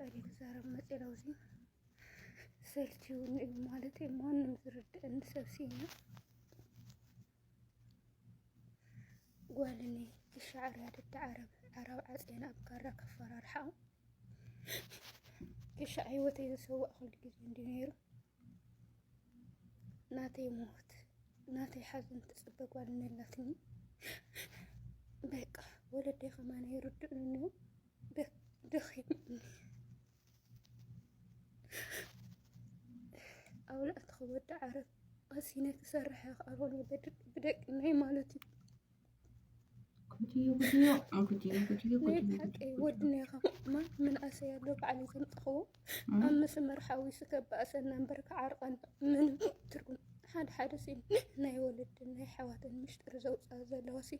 እኔ ክዛረብ መጽ ለውዚ ሰልችውን እዩ ማለት ማንም ዝርድእን ሰብ ሲና ጓልኒ ክሻዕር ያደዳ ዓረብ ዓራብ ዓፅየን ኣብ ካራ ከፈራርሓ ክሻዕ ህይወተይ ዝሰዋእ ኩሉ ግዜ እንዲ ነይሩ ናተይ ሞት ናተይ ሓዘን ትፅበ ጓልኒ ኣላትኒ በቃ ወለደይ ከማን ይርድእንኒ ደኺሙኒ ኣውላዕቲ ክወዲ ዓረብ ቀሲነ ክሰርሐ ክኣበሉ ብደቂ ናይ ማለት እዩ ሓቂ ወድና ኢኻ ማን ምንኣሰይ ኣሎ በዓል ዘምጠኽዎ ኣብ መስመር ሓዊሱ ከባእሰና እምበር ክዓርቐን ምንም ትርጉም ሓደ ሓደ ሲ ናይ ወለድን ናይ ሓዋትን ምሽጥር ዘውፅኣ ዘለዋ ሲ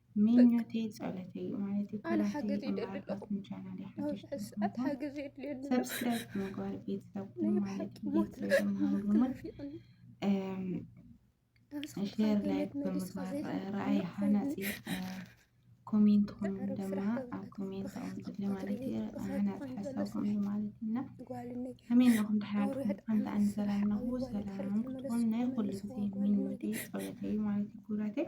ምኞተይ ፀሎተይ እዩ ማለት እዩ። ኣነ ሓገዝ ይደሊ ኣለኹ ነብሲ ሕስኣት ሓገዝ የድልየኒ ሰብስክራይብ ምግባር ቤተሰብ ናይ ብሓቂ ሞት ናፊቕኒ ሼር ላይክ ብምግባር ራእይ ሃናፂ ኮሜንትኹም ድማ ኣብ ኮሜንት ኣቕምጡልኝ ማለት እዩ። ሃናፂ ሓሳብኩም እዩ ማለት እና ከመይ ነኹም ተሓላልኩም ሓንቲ ኣን ሰላም ነኹ ሰላም ክትኮኑ ናይ ኩሉ ግዜ ምኞተይ ፀሎተይ ማለት እዩ ክብራተይ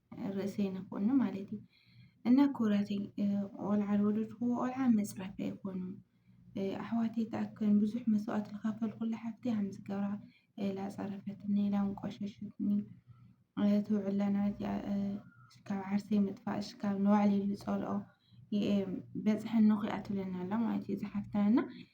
ርእሰይ ንኹኑ ማለት እዩ እና ክብራተይ ቆልዓ ዝወለድክዎ ቆልዓ መፅረፊ ኣይኮኑ ኣሕዋተይ ተኣክን ብዙሕ መስዋእት ዝኸፈልኩላ ሓፍቲ ሃምዚ ገብራ ላፀረፈትኒ ኢላውን ቆሸሸትኒ ትውዕላ ነበረት ካብ ዓርሰይ ምጥፋእሽ ካብ ንባዕለይ ዝፀልኦ በፅሐኒ ኩኣ ትብለና ኣላ ማለት እዩ ዝሓፍትና እና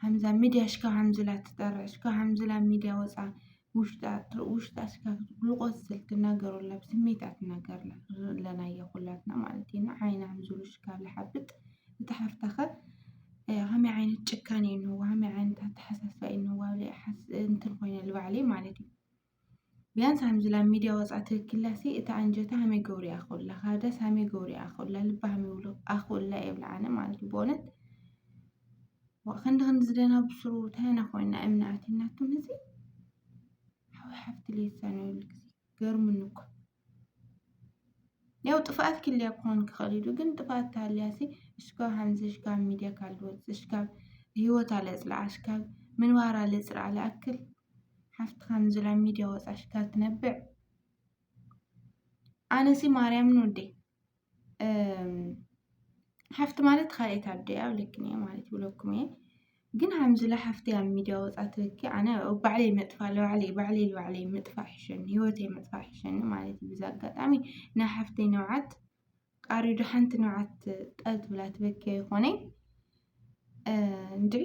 ሃምዛ ሚድያ ሽካ ሃምዝላ ትጠርዕ ሽካ ሃምዝላ ሚድያ ወፃ ውሽጣ ውሽጣ ሽካ ግሉቆስ ስል ትናገረላ ብስሜት ኣትናገርላ ዘለናዮ ኩላትና ማለት እዩ እና ዓይና ሃምዝሉ ሽካ ዝሓብጥ እቲ ሓፍታኸ ከመይ ዓይነት ጭካኔ እንዋ ከመይ ዓይነት ኣተሓሳስባ እንዋ እንትን ኮይነ ልባዕለይ ማለት እዩ ቢያንስ ሃምዚ ላብ ሚድያ ወጻእ ትክክላሲ እታ ኣንጀታ ሃመይ ገብሩ ኣክኡላ ካብዳስ ሃመይ ገብሩ ኣክኡላ ልባ ሃመይ ይብሉ ኣክኡላ የብላ ኣነ ማለት ብእውነት ዋእ ክንዲ ክንዲ ዝደና ብስሩ ታይ ኢና ኮይና እምኒ ኣትዩናቱም እዚ ሓው ሓፍቲ ለይሳነሉ ግዜ ገርሙኒ እኮ ያው ጥፍኣት ክልያ ክኾን ክኽእል ኢሉ ግን ጥፍኣት ታልያሲ እሽካብ ሃምዚ እሽካብ ሚድያ ካልወፅ እሽካብ ህይወት ኣለፅልዓ እሽካብ ምንባር ኣለፅልዓ ልኣክል ሓፍትካ ንዝላ ሚድያ ወፃ ሽካር ትነብዕ ኣነሲ ማርያምን ወደይ ሓፍቲ ማለት ካልኤት ኣደይ ኣብ ልክን እየ ማለት ይብለኩም እየ ግን ሃምዝላ ሓፍቲ ኣብ ሚድያ ወፃ ትበኪ ኣነ ባዕለይ መጥፋእ ለባዕለይ ባዕለይ ባዕለይ ምጥፋእ ይሸኒ ህይወተይ ምጥፋእ ይሸኒ ማለት እዩ ብዛ ኣጋጣሚ ናይ ሓፍተይ ነውዓት ቃሪ ዶ ሓንቲ ንብዓት ጠል ትብላ ትበኪ ይኾነይ እንድዒ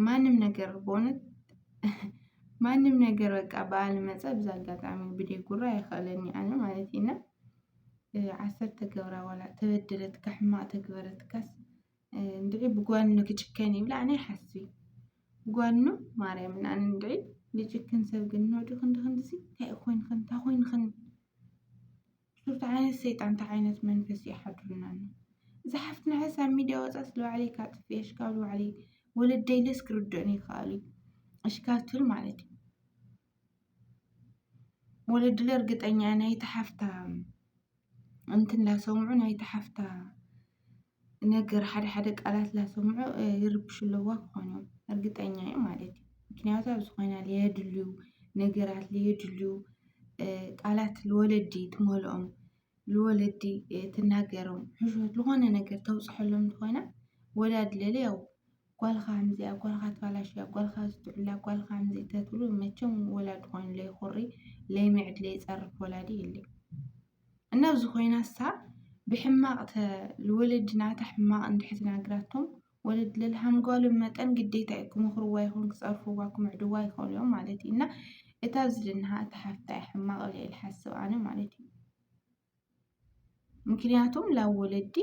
ማንም ነገር በእውነት ማንም ነገር በቃ በዓል መፀ ብዛ ኣጋጣሚ ብደይ ጉራ ይኸእለኒ ኣነ ማለት ኢና ዓሰብ ተገብራ ዋላ ተበደለትካ ሕማቕ ተግበረትካስ እንድዒ ብጓኑ ክጭከን ይብላ ኣነ ሓስቢ ጓኑ ማርያም እና ኣነ እንድዒ ልጭክን ሰብ ግን ኖዲ ክንዲ ክንዲሲ እንታይ ኮይንክን እንታይ ኮይንክን ሽፍታ ዓይነት ሰይጣን እንታይ ዓይነት መንፈስ እዩ ሓድሩና ኣሎ እዛ ሓፍትና ሕስ ኣብ ሚድያ ወፃ ስለ ባዕለይ ካብ ጥፍኤ ሽካብ ባዕለይ ወለደይ ለስ ክርድኡን ይከኣሉ እዩ እሽካብ ትብል ማለት እዩ ወለድለ እርግጠኛ ናይቲ ሓፍታ እንትን ላሰምዑ ናይቲ ሓፍታ ነገር ሓደ ሓደ ቃላት ላሰምዑ ይርብሹ ኣለዋ ክኾኑ እርግጠኛ እየ ማለት እዩ። ምክንያቱ ኣብ ዝኾነ ለየድልዩ ነገራት ለየድልዩ ቃላት ልወለዲ ትመልኦም ልወለዲ ትናገሮም ሕሾት ዝኾነ ነገር ተውፀሐሎም እንተኾይና ወላዲ ለለ ያው። ጓልካ ኣምዚኣ ጓልካ ኣትባላሽያ ጓልካ ዝትዑላ ጓልካ ኣምዚ ተትብሉ መቸም ወላዲ ኮይኑ ለይኹሪ ለይምዕድ ለይጸርፍ ወላዲ የልይ እና ኣብዚ ኮይና እሳ ብሕማቕ ተ ልወለዲ ናታ ሕማቕ እንድሕር ተናግራቶም ወለድ ለልሃምጓሉ መጠን ግዴታ እዩ ክመኽርዋ ይኹን ክጸርፍዋ ክምዕድዋ ይኸእሉ እዮም ማለት እዩ እና እታ ዝድንሃ እታ ሓፍታ እያ ሕማቕ ኢለ ኢልሓስብ ኣነ ማለት እዩ ምክንያቱም ላብ ወለዲ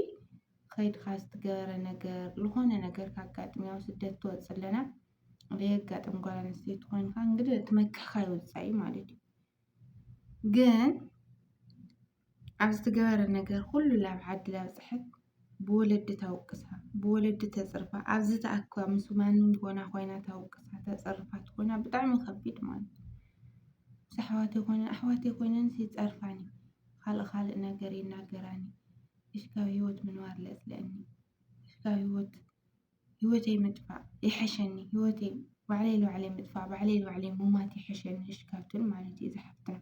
ኸይድካ ዝትገበረ ነገር ዝኾነ ነገር ካጋጥም ያው ስደት ትወፅእ ኣለና ዘየጋጥም ጓል ኣንስተይቲ ኮይንካ እንግዲህ እቲ መክሕካ ይወፃኢ ማለት እዩ ግን ኣብ ዝትገበረ ነገር ኩሉ ላብ ዓዲ ላብ ፅሐት ብወለዲ ታውቅሳ ብወለዲ ተጽርፋ ኣብዚ ተኣካ ምስ ማንም ጎና ኮይና ታውቅሳ ተጸርፋ ትኮና ብጣዕሚ ከቢድ ማለት እዩ። ምስ ኣሕዋተይ ኮይነን ኣሕዋተይ ኮይነንስ ይጸርፋኒ ካልእ ካልእ ነገር ይናገራኒ እሽ ካብ ሂወት ምንባር ለጽልኣኒ እሽ ካብ ሂወት ሂወተይ ምጥፋእ ይሕሸኒ ሂወተይ ባዕለይ ንባዕለይ ምጥፋእ ባዕለይ ንባዕለይ ምሟት ይሕሸኒ እሽ ካብተን ማለት እዩ ዝሓፍተን።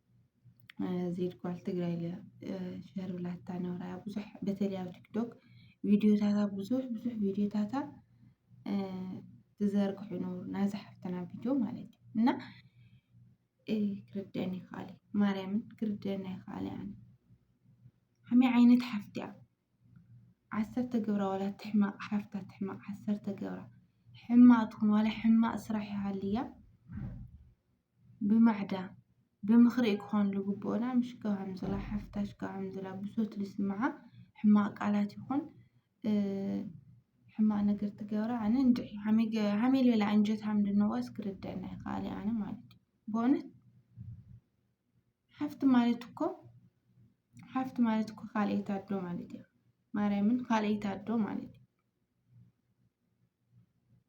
ዜድ ጓል ትግራይ ኢለ ሸር ብላታ ነብራ ብዙሕ በተለይ ኣብ ቲክቶክ ቪድዮታታ ብዙሕ ብዙሕ ቪድዮታታ ትዘርግሑ ነብሩ ናዛ ሓፍትና ቪድዮ ማለት እዩ እና ክርደን ይኸኣል ማርያምን ክርደን ይኸኣል ኣነ ከመይ ዓይነት ሓፍቲ እያ ዓሰርተ ገብራ ዋላ ትሕማቕ ሓፍታ ትሕማቕ ዓሰርተ ገብራ ሕማቕ ትኹን ዋላ ሕማቕ ስራሕ ይሃልያ ብማዕዳ ብምክሪ'ዩ ክኾን ልግብኡና ምሽ ከምዝላ ሓፍታሽ ከምዝላ ብሶት ልስምዓ ሕማቅ ቃላት ይኹን ሕማቅ ነገር ትገብራ ኣነ እንድዒ ሃመይ ልበለ ኣንጀታም ድንዋስ ክርደኣና ኣይክኣለይ ኣነ ማለት እዩ ብእውነት ሓፍቲ ማለት እኮ ሓፍቲ ማለት እኮ ካልኣይቲ ኣዶ ማለት እያ ማርያምን ካልኣይቲ ኣዶ ማለት እዩ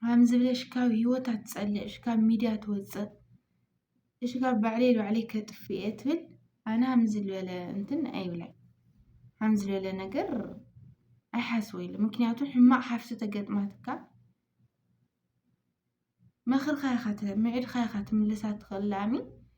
ከምዚ ብለሽ ካብ ሂወት ኣትጸልእ እሽ ካብ ሚድያ ትወጽእ እሽ ካብ ባዕለይ ንባዕለይ ከጥፍ እየ ትብል ኣነ ከምዚ ዝበለ እንትን ኣይብላን ከምዚ ዝበለ ነገር ኣይሓስቦ ኢለ ምክንያቱ ሕማቅ ሓፍ ዝተገጥማትካ መኽርካ ኢኻ ምዒድካ ኢኻ ትምልሳ ትኽእል ላሚ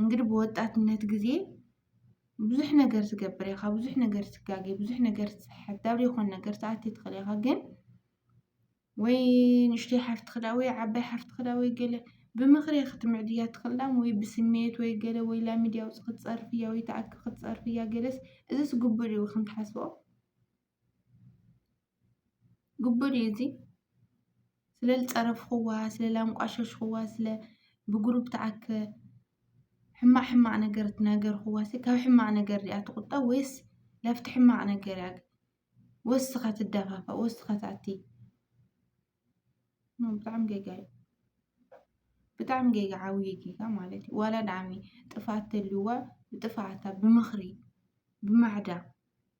እንግዲህ ብወጣትነት ግዜ ብዙሕ ነገር ትገብር ኢኻ፣ ብዙሕ ነገር ትጋገ፣ ብዙሕ ነገር ትስሕት፣ ናብ ዘይኮነ ነገር ትኣቲ ትኽእል ኢኻ። ግን ወይ ንእሽተይ ሓፍቲ ክዳ ወይ ዓባይ ሓፍቲ ክዳ ወይ ገለ ብምኽሪ ክትምዕድያ ትኽእል ዳም ወይ ብስሜት ወይ ገለ ወይ ላ ሚድያ ውፅ ክትፀርፍያ ወይ ተኣኪ ክትፀርፍያ ገለስ እዚስ ግቡእ ድዩ ክንትሓስቦ ግቡእ ድዩ እዚ? ስለ ዝፀረፍኹዋ፣ ስለ ላንቋሸሽኹዋ፣ ስለ ብግሩፕ ተኣከ ሕማቕ ሕማቕ ነገር ዝነገርኹዋስ ካብ ሕማቕ ነገር ድኣ ትቑጠብ ወይስ ናብቲ ሕማቕ ነገር እያ ወሲኻ ትደፋፋእ ወሲኻ ትኣቲ? ኖ ብጣዕሚ ጌጋ እዩ። ብጣዕሚ ጌጋ ዓብዪ ጌጋ ማለት እዩ። ዋላ ድኣሚ ጥፍኣት ተልዩዋ ብጥፍኣታ ብምኽሪ ብማዕዳ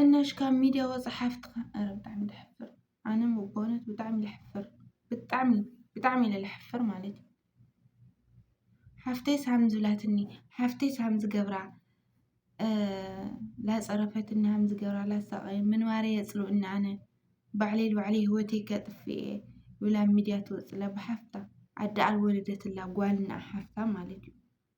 እነሽ ካብ ሚድያ ወፃእ ሓፍትካ ኣረ ብጣዕሚ ተሕፍር ኣነ በእውነት ብጣዕሚ ለሕፍር ብጣዕሚ ብጣዕሚ ኢለ ለሕፍር ማለት እዩ ሓፍተይስ ሃም ዝብላትኒ ሓፍተይስ ሃም ዝገብራ ላፀረፈትኒ ሃም ዝገብራ ላሳቀየ ምንባረ የፅልኡኒ ኣነ ባዕለይ ንባዕለይ ሂወተይ ከጥፍእ እየ ኢላ ኣብ ሚድያ ትወፅእ ኣላ ብሓፍታ ኣደ ኣልወለደትላ ጓል እንኣ ሓፍታ ማለት እዩ።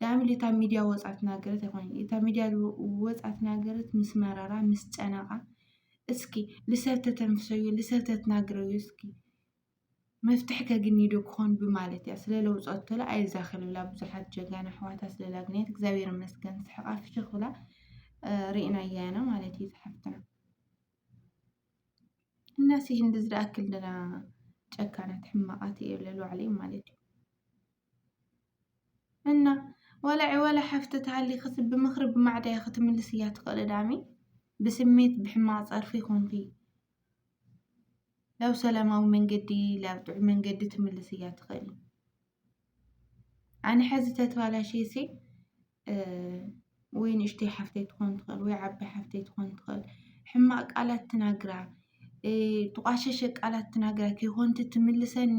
ዳኣም ኢሉ እታ ሚድያ ወጽዓ ተናገረት ኣይኮነን እታ ሚድያ ወጽዓ ተናገረት ምስ መረራ ምስ ጨነቃ እስኪ ልሰብ ተተንፍሰዮ ልሰብ ተትናግረዮ እስኪ መፍትሒ ከግኒዶ ክኾን ብማለት እያ ስለ ለውጸቶላ ኣይዛኸል ብላ ብዙሓት ጀጋኑ ኣሕዋታ ስለ ላግንያት እግዚኣብሔር ይመስገን ስሕቃ ፍሽኽ ብላ ርኢናያ ኢና ማለት እዩ ዝሓፍትና እና ሲ እንደዚ ደኣክል ደና ጨካናት ሕማቃት እየ ለዋዕለይ ማለት እዩ እና ወላ ዕወላ ሓፍቲ ተሃሊክስ ብምኽሪ ብማዕዳ ኢኺ ትምልስያ ትኽእሊ ዳኣሚ ብስሜት ብሕማቅ ጸርፊ ኮንኪ ብ ሰላማዊ መንገዲ ብ ጥዑይ መንገዲ ትምልስያ ትኽእሊ ኣነ ሕዚ ተተባላሽየሲ ወይ ንእሽተይ ሓፍተይ ትኾን ትኽእል ወይ ዓባይ ሓፍተይ ትኾን ትኽእል ሕማቅ ቃላት ትናግራ ተቛሸሸ ቃላት ትናግራ ከይኮንኪ ትምልሰኒ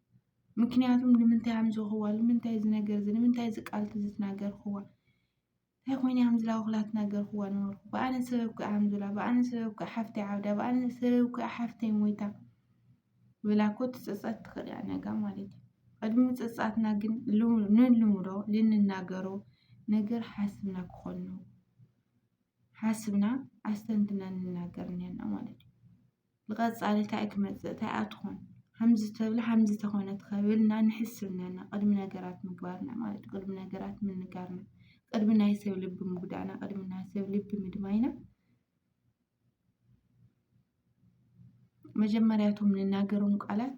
ምክንያቱም ንምንታይ እዮም ዝወኽዋ ንምንታይ እዚ ነገር እዚ ንምንታይ እዚ ቃል እዚ ተናገርክዋ እንታይ ኮይኑ እዮም ዝላ ውኽላ ተናገርክዋ ነበርኩ ብኣነ ሰበብ እኮ እዮም ዝላ ብኣነ ሰበብ እኮ ሓፍተይ ዓብዳ ብኣነ ሰበብ እኮ ሓፍተይ ሞይታ ብላ እኮ ትፅፀት ትኽእል እያ ነጋ ማለት እዩ ቅድሚ ምፅፃትና ግን ልሙ- ንልሙዶ ልንናገሮ ነገር ሓስብና ክኾን ነው ሓስብና ኣስተንትና ንናገር እኒሀና ማለት እዩ ብቐጻሊ እንታይ ክመጽእ እንታይ እያ ትኾን ከምዚ ተብላ ከምዚ ተኾነት ከብልና ንሕስብ ነና ቅድሚ ነገራት ምግባርና ማለት እዩ ቅድሚ ነገራት ምንጋርና ቅድሚ ናይ ሰብ ልቢ ምጉዳእና ቅድሚ ናይ ሰብ ልቢ ምድማይና መጀመርያ እቶም ንናገሮም ቃላት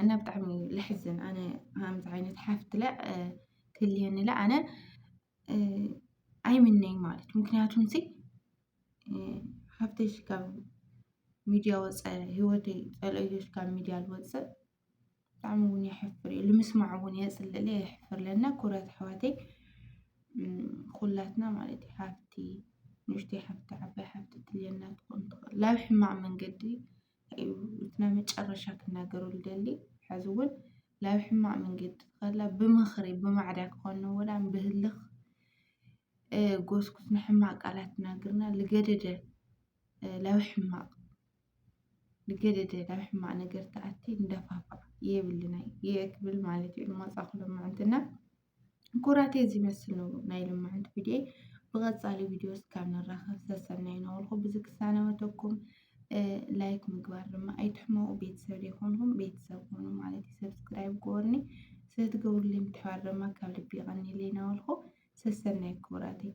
እና ብጣዕሚ ልሕዝን ኣነ ከምዚ ዓይነት ሓፍቲ ለ ክልየኒ ለ ኣነ ኣይምነይ ማለት እዩ ምክንያቱ እዚ ሓፍተይ ካብ ሚድያ ወፀ ሂወተይ ፀልእዮ ካብ ሚድያ ዝወፅእ ብጣዕሚ እውን የሕፍር እዩ ንምስማዕ እውን የፅልእ ለ የሕፍር ለ እና ኩብራት ኣሕዋተይ ኩላትና ማለት እዩ ሓፍቲ ንእሽተይ ሓፍቲ ዓባይ ሓፍቲ ትልየና ትኾን ትኽእል ላብ ሕማቅ መንገዲ እዩ እቲ ናይ መጨረሻ ክናገሮ ልደሊ ሕዚ እውን ላብ ሕማቅ መንገዲ ከላ ብምኽሪ ብማዕዳ ክኾኑ ወላም ብህልኽ ጎስኩስ ንሕማቅ ቃላት ትናገርና ልገደደ ላብ ሕማቅ ልገደደ ላብ ሕማቅ ነገር ተኣቲ እንዳፋፋዕ የብልና የክብል ማለት እዩ ልማፃ ክሎ ምዕንትና ኩራቴ እዚ መስል ነው ናይ ልምዓት ቪድዮ ብቐፃሊ ቪድዮ እስካብ ንራኸብ ሰሰናይ ናበልኩ ብዚ ክሳነበተኩም ላይክ ምግባር ድማ ኣይትሕመቑ ቤተሰብ ዘይኮንኩም ቤተሰብ ሆኑ ማለት እዩ ሰብስክራይብ ጎርኒ ስለትገብሩልይ ምትሕባር ድማ ካብ ልቢ ይቐኒለይ ናበልኩ ሰሰናይ ክቡራተይ